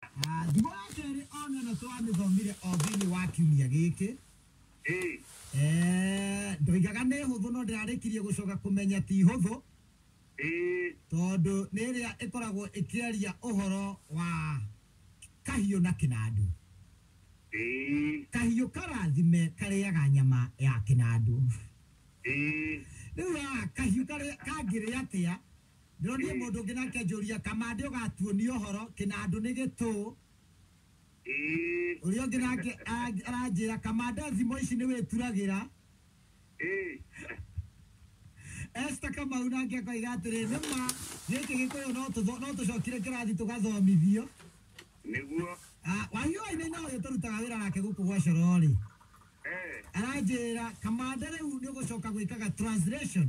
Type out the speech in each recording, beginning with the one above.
Ah, Thimo ya kerĩ ona ĩno twamĩthomire o thĩinĩ wa kiumia gĩkĩ ĩ Eh, ndoigaga nĩ hũthũ no ndĩrarĩkirie gũcoka kũmenya ti hũthũ ĩ tondũ nĩ ĩrĩa ĩkoragwo ĩkĩaria ũhoro wa kahiũ na kĩnandũ ĩ kahiũ karathime karĩaga nyama ya kĩnandũ ĩ rĩu haha kahiũ karĩa- kangĩrĩa atĩa Ndĩronire mũndũ ũngĩ nake njũria, Kamande ũgatuonia ũhoro, Kĩnandũ nĩ gĩtũũ. Ũrĩa ũngĩ nake aranjĩra, Kamande thimo ici nĩwĩturagĩra. Esther Kamau nake akoiga atĩrĩ, Nĩ ma, gĩkĩ Gĩkũyũ no tũtho- no tũcokire kĩrathi tũgathomithio. Nĩguo. Ah, Wahiũ Wainaina ũyũ tũrutaga wĩra nake gũkũ gwa Coro-rĩ, Eh. aranjĩra, Kamande rĩu nĩũgũcoka gwĩkaga translation.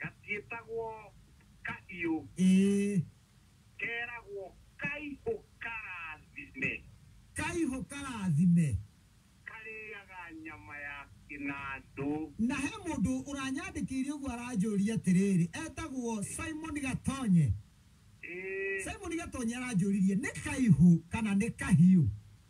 Gatiĩtagwo kahiũ. Ĩĩ. Keragwo kaihũ karathime. Kaihũ karathime. Karĩaga nyama ya kĩnandũ. Na he mũndũ ũranyandĩkĩire ũguo aranjũria atĩrĩrĩ, etagwo Simon Gatonye. Ĩĩ. Simon Gatonye aranjũririe nĩ kaihũ kana nĩ kahiũ?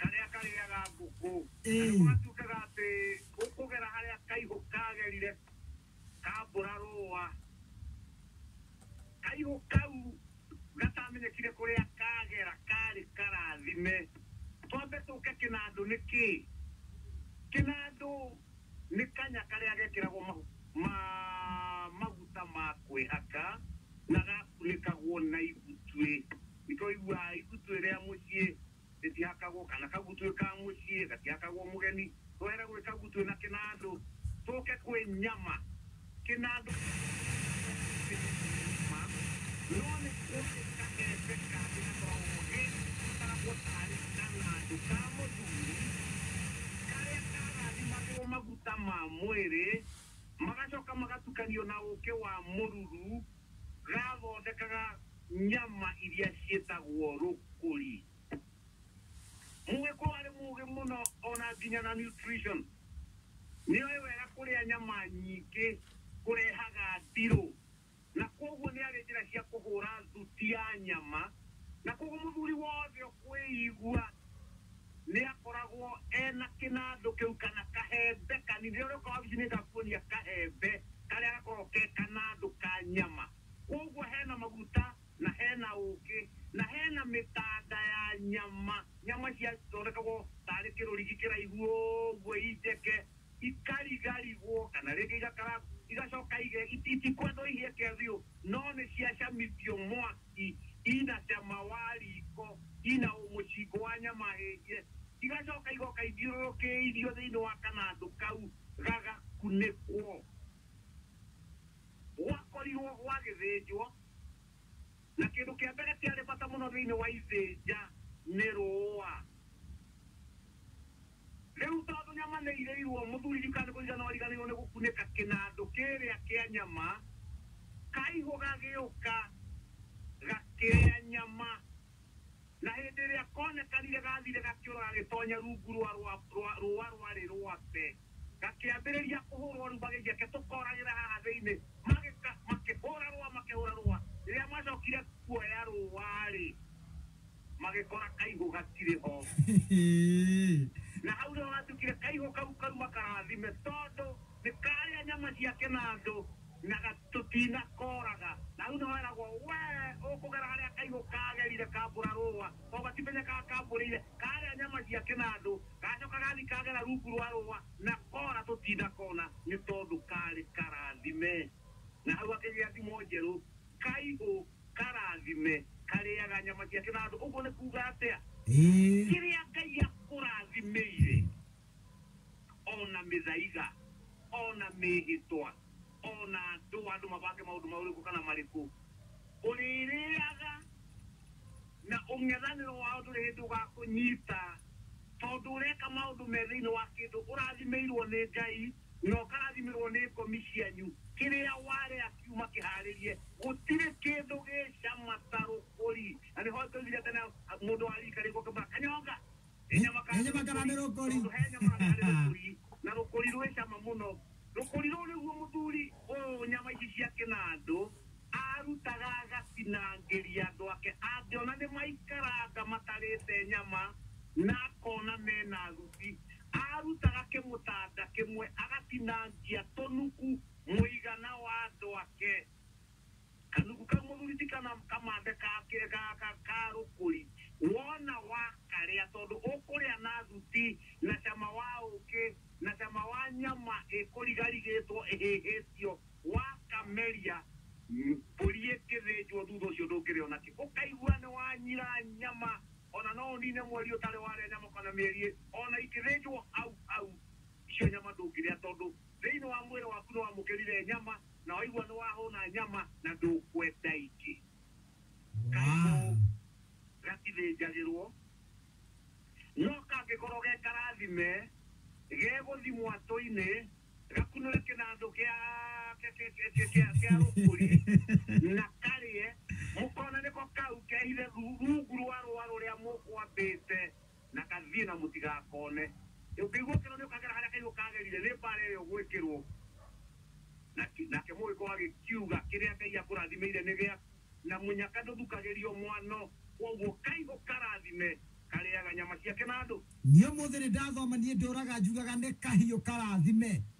karĩa karĩaga ngũkũ Ĩĩ. nĩguo gatuĩkaga atĩ ũkũgera harĩa kaihũ kagerire kambũra rũa kaihũ kau gatamenyekire kũrĩa kagera karĩ karathime twambe tũke kĩnandũ nĩ kĩ kĩnandũ nĩ kanya karĩa gekĩragwo mahu- ma- maguta ma kwĩhaka na gakunĩkagwo na igutuĩ Nĩtwaiguaa igutuĩ rĩa mũciĩ rĩtihakagwo, kana kagutuĩ ka mũciĩ gatihakagwo mũgeni. Twaĩra gwĩ kagutuĩ na kĩnandũ, tũke kwĩ nyama. Kĩnandũ kĩrĩ nyama, no nĩ kwarĩ kaembe kangĩ gatoogĩ gakaragwo taarĩ kanandũ ka mũthuri, karĩa karathimagĩrwo maguta ma mwĩrĩ, magacoka magatukanio na ũkĩ wa mũruru, gathondekaga. nyama iria ciĩtagwo rũkũri. Mũgĩkũyũ arĩ mũũgĩ mũno ona nginya na nutrition. Nĩoĩ wega kũrĩa nyama nyingĩ kũrehaga ndirũ. Na kwoguo nĩarĩ njĩra cia kũhũra thuti ya nyama. Na kwoguo mũthuri wothe ũkwĩigua nĩakoragwo ena kĩnandũ kĩu kana kahembe kanini. Rĩrĩa ũrĩũka wabici nĩngakuonia kahembe karĩa gakoragwo ke kanandũ ka nyama. Kwoguo he na maguta, na he na ũũkĩ, na he na mĩkanda ya nyama, nyama ici ciathondekagwo tarĩ kĩrũrigi kĩraihu ũguo injeke, ikarigarigwo, kana rĩngĩ igakarangwo, igacoka ige, iti, itikwendwo ihĩe ke biũ, no nĩ ciacamithio mwaki, ina cama wa riiko, ina mũcingo wa nyama hĩhie, igacoka igoka ithiũrũrũkĩirio thĩinĩ wa kanandũ kau gagakunĩkwo. gwakorirũo gwagĩthĩnjwo, na kĩndũ kĩa mbere kĩarĩ bata mũno thĩinĩ wa ithĩnja nĩ rũũa. Rĩu tondũ nyama nĩ irĩirũo, mũthuri riika nĩ kũigana origanĩirũo nĩ gũkunĩka kĩnandũ kĩrĩa kĩa nyama, kaihũ gagĩũka gakĩrĩa nyama. Na hĩndĩ ĩrĩa koonekanire gaathire gakĩũra gagĩtoonya rungu rwa rwa rwa rũũa rwarĩ rwake, gakĩambĩrĩria kũhũũrwo rĩu magĩthiĩ ake, Tũkooragĩra haha thĩinĩ. Magĩka, makĩhũũra rũũa, makĩhũũra rũũa. Rĩrĩa macookire kuoya rũũa-rĩ, magĩkora kaihũ gatirĩ ho. Na hau nĩho hatuĩkire kaihũ kau kauma karathime, tondũ nĩkaarĩa nyama ciake na andũ. na gatũtinakooraga. Na rĩu nĩho eragwo, Wee ũkũgera harĩa kaigũ kaagerire kaambũra rũũa, tondũ gatimenyekaa kaambũrĩire, kaarĩa nyama cia kĩnandũ, gacooka gathiĩ kagera rungu rwa rũũa, na koora tũtinakona, nĩ tondũ kaarĩ karaathime. Na hau hakĩgĩa thimo njerũ, Kaigũ karaathime karĩaga nyama cia kĩnandũ. Ũguo nĩ kuuga atĩa? Kĩrĩa Ngai akũrathimĩire. o na mĩthaiga, o na mĩĩhĩtwa, o na andũ, andũ mabange maũndũ maũrĩkũ kana marĩkũ, ũrĩrĩaga, na ũng'ethanĩro wao ndũrĩ hĩndĩ ũgakũnyita, tondũ ũreka maũndũ me thĩinĩ wa kĩndũ ũrathimĩirwo nĩ Ngai, na ũkarathimĩrwo nĩ ngomi cianyu, kĩrĩa warĩa kiuma kĩhaarĩrie, gũtirĩ kĩndũ gĩ cama ta rũkũri. Na nĩho ndoigire tene, mũndũ wa riika rĩkũ ũngĩmũra kanyonga? Nenye makarame rũkũri. Tondũ he nyama na harĩ rũkũri, na rũkũri rwĩ cama mũno. Rũkũri rũu nĩguo mũthuri ũũ nyama ici cia kĩnandũ arutaga agatinangĩria andũ ake. Angĩona nĩmaikaranga matarĩte nyama na akona mena thuti, arutaga kĩmũtanda kĩmwe agatinangia tũnuku mũigana wa andũ ake. Kanugu kau mũthuri ti kana kamande ka kĩ- ga- ga- ka rũkũri wona wakarĩa tondũ ũkũrĩa na thuti na cama wa ũkĩ na cama wa nyama ĩkũrigarigĩtwo ĩhĩhĩtio wakameria m- mbũri ĩkĩthĩnjwo thutha ũcio ndũngĩrĩa ona kĩ ũkaigua nĩ wanyira nyama ona no ũnine mweri ũtarĩ warĩa nyama kana mĩeri ĩrĩ ona ikĩthĩnjwo hau hau icio nyama ndũngĩrĩa tondũ thĩinĩ wa mwĩrĩ waku nĩ wamũkĩrire nyama Na waigua nĩ wahũna nyama na ndũkwenda ingĩ. Kaimũ gatithĩnjagĩrwo. No kangĩkorwo ge karathime, gegũthimwo atũ-inĩ, gakunũre kĩnandũ kĩa kĩa- kĩa- kĩa- kĩa- kĩa- kĩa rũkũri na karĩe, mũkona nĩko kau kehithe thu- rungu rwa rũa rũrĩa mũkwambĩte. na kathiĩ, na mũtigakone. Ũkĩigua kĩro nĩũkagera harĩa kaigũ kagerire, nĩ mbaara ĩyo gwĩkĩrwo. Na, nake Mũgĩkũyũ agĩkiuga, Kĩrĩa Ngai akũrathimĩire nĩ gĩaku, na mũnyaka ndũthukagĩrio mwano, kwoguo kaigũ karathime, karĩaga nyama ciake na andũ. Niĩ ũmũthĩ nĩndathoma, niĩ ndũũraga njugaga nĩ kahiũ karathime.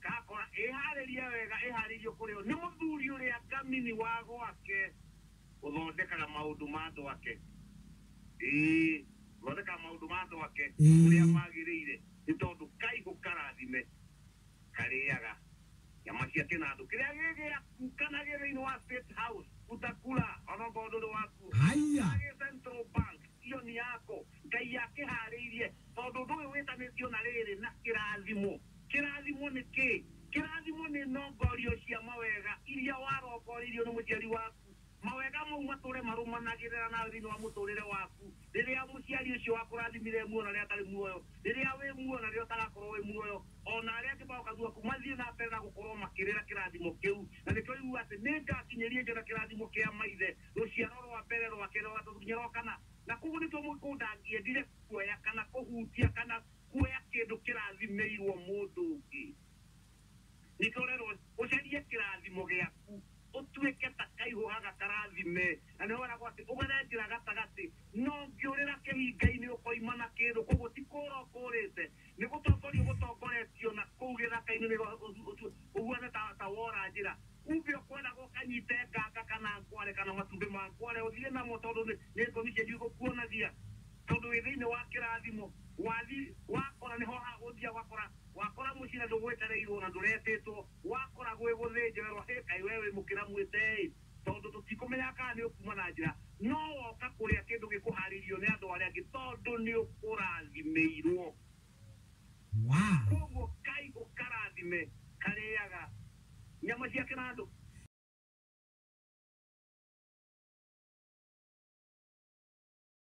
Ngakora ĩhaarĩrie wega ĩhaarĩirio kũrĩ o nĩ mũthuri ũrĩa ngamini wa gwake ũthondekaga maũndũ ma andũ ake. Ĩĩ, ũthondekaga maũndũ ma andũ ake Ĩĩ. ũrĩa magĩrĩire, nĩ tondũ kaihũ karathime karĩaga nyama cia kĩnandũ kĩrĩa gĩ gĩaku kana gĩ thĩinĩ wa State House utakula ona ongorwo ndũrĩ wakuo Haiya. Kana gĩ Central Bank iyo nĩ yako Ngai akĩharĩirie tondũ ũndũ ũyũ wĩtanĩtio na rĩrĩ na kĩrathimo Kĩrathimo nĩ kĩ? Kĩrathimo nĩ nongorio cia mawega iria warongoreirio nĩ mũciari waku. Mawega mau matũũre marũmanagĩrĩra nawe thĩinĩ wa mũtũũrĩre waku, rĩrĩa mũciari ũcio wakũrathimire e muoyo na rĩrĩa atarĩ muoyo, rĩrĩa wĩ muoyo na rĩrĩa ũtagakorũo wĩ muoyo, o na arĩa angĩ magoka thutha waku, mathiĩ na mbere na gũkorũo makĩrĩra kĩrathimo kĩu. Na nĩkĩo yugaga atĩ, Nĩ ngakinyĩria Jona kĩrathimo kĩa maithe, rũciaro rwa mbere, rwa kerĩ, rwa gatatũ, nginya rwa kana. Na kwoguo nĩ tuo mũgĩkũnda angĩendire kuoya kana kũhutia kana Kuoya kĩndũ kĩrathimĩirwo mũndũ ũngĩ nĩ ndorerwo. Ũcarie kĩrathimo gĩaku ũtuĩke ta kaihũ haga karathime. Na nĩho weragwo atĩ, Ũgethe njĩra gatagatĩ, na ũngĩũrĩra kĩhinga-inĩ ũkoima na kĩndũ. Kwoguo ti kũũra ũkũũrĩte, nĩ gũtongoria ũgũtongoretio na kũu gĩthaka-inĩ nĩho ũhuana ta wora njĩra. Kumbe ũkwendaga ũkanyite nganga kana ngware kana matumbĩ ma ngware ũthiĩ namo tondũ nĩ ngomi cianyu igũkuonagia. Tondũ wĩ thĩinĩ wa kĩrathimo, wathi, wakora nĩho ha gũthia, wakora, wakora mũciĩ na ndũgwetereirwo na ndũretĩtwo, wakora gwĩ gũthĩnje, werwo hĩ kaĩ we wĩ mũkĩra mwĩte-ĩ, tondũ tũtikũmenyaga kana nĩ ũkuma na njĩra, no woka kũrĩa kĩndũ gĩkũharĩirio nĩ andũ arĩa angĩ, tondũ nĩ ũkũrathimĩirwo. Wow! Kwoguo Ngai ũkarathime karĩaga nyama ciake na andũ.